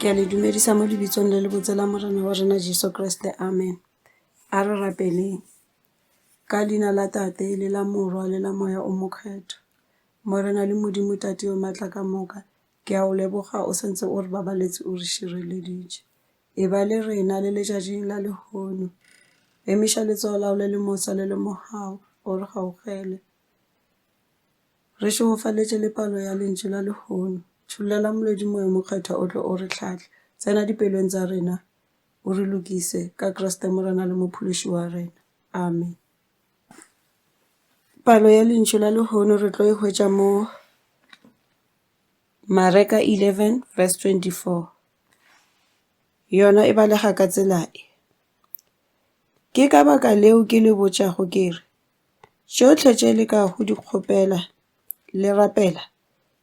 ke a le dumedisa mo lebitsong le le botse la morena wa rena jesu kriste amen a re rapeleng ka leina la tate le la morwa le la moya o mokgetho morena le modimo tate yo maatla ka moka ke a o leboga o sentse o re babaletse o re šireleditše Eba le rena le letšatšing la lehono. Emiša letsogo la go le le mosa le le mogau o re gaugele. Re šegofaletše le palo ya lentšu la lehono. Tšhollela Molwedi Moya Mokgethwa o tle o re hlahle. Tsena dipelong tsa rena o re lokise ka Kriste Morena le Mophološi wa rena. Amen. Palo ya lentšu la lehono re tlo e hwetša mo Mareka 11 verse 24 yona e balega ka tsela e, Ke ka baka leo ke le botšago ke re, tšohle tše le ka go di kgopela le rapela,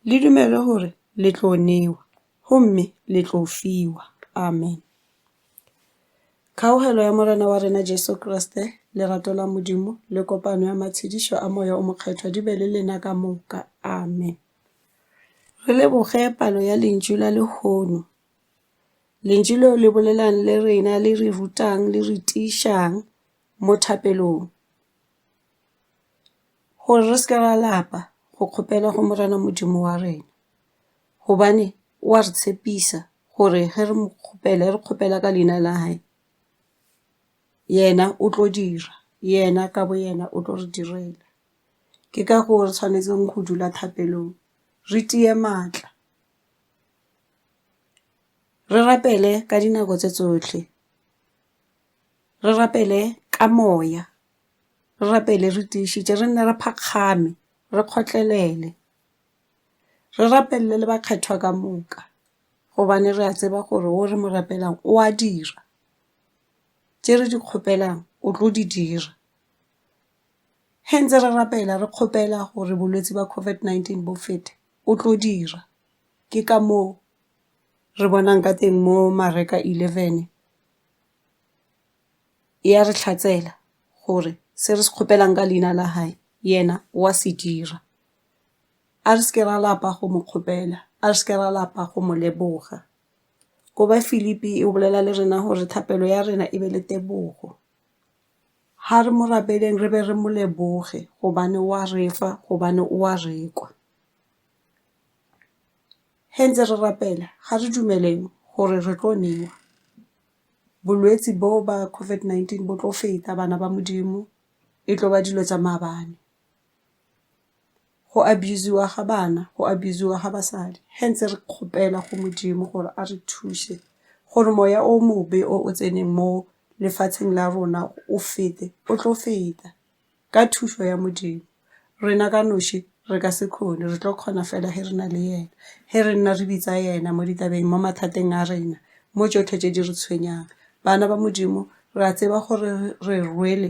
le dumele gore le tlo newa, gomme le tlo fiwa. Amen. Kgaogelo ya Morena wa rena Jesu Kriste, lerato la Modimo, le kopano ya matshedišo a Moya o Mokgethwa di be le lena ka moka. Amen. Re leboge palo ya lentšu la lehono. Lentšu leo le bolelang le rena, le re rutang, le re tiišang mo thapelong gore re se ke ra lapa go kgopela go Morena Modimo wa rena gobane o a re tshepisa gore ge re mo kgopela, re kgopela ka leina la hae yena o tlo dira, yena ka boyena o tlo re direla. Ke ka goo re tshwanetseng go dula thapelong, re tie maatla, re rapele ka dinako tse tsohle, re rapele ka moya, re rapele re tiišitše, re nne re phakgame, re kgotlelele, re rapelele le bakgethwa ka moka gobane re a tseba gore wo re mo rapelang o a dira, tše re di kgopelang o tlo di dira. Ge ntse re rapela re kgopela gore bolwetsi bja COVID-19 bo fete, o tlo dira. Ke ka moo re bonang ka teng mo Mareka 11 e a re hlatsela gore se re se kgopelang ka leina la gagwe yena o a se dira. A re se ke ra lapa go mo kgopela, a re se ke ra lapa go mo leboga. Go ba Filipi e bolela le rena gore thapelo ya rena e be le tebogo. Ha re mo rapeleng re be re mo leboge gobane o a re fa gobane o a re kwa. Ge ntse re rapela ga re dumele gore re tlo newa bolwetsi bo ba COVID-19 bo tlo feta bana ba Modimo e tlo ba dilo tša maabane. go abuse-wa ga bana, go abuse-wa ga basadi. Hence re kgopela go Modimo gore a re thuse gore moya o mobe o o tseneng mo lefatsheng la rona o fete, o tlo feta ka thušo ya Modimo. Rena ka noši re ka se kgone, re tlo kgona fela ge re na le yena, ge re nna re bitsa yena mo ditabeng, mo mathateng a rena, mo tšohle tše di re tshwenyang. Bana ba Modimo re a tseba gore re rwele.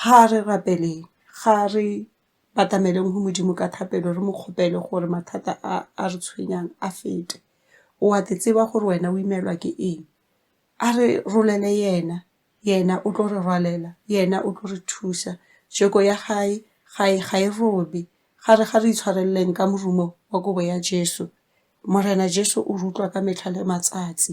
Ga re rapeleng, ga re batameleng go Modimo ka thapelo re mo kgopele gore mathata a a re tshwenyang a fete. O a ke tseba gore wena o imelwa ke eng. A re rolele yena, yena o tlo re rwalela, yena o tlo re thusa. Joko ya hae ga e ga e robe. Ga re ga re itshwareleng ka morumo wa kobo ya Jesu. Morena Jesu o re utlwa ka metlha le matsatsi.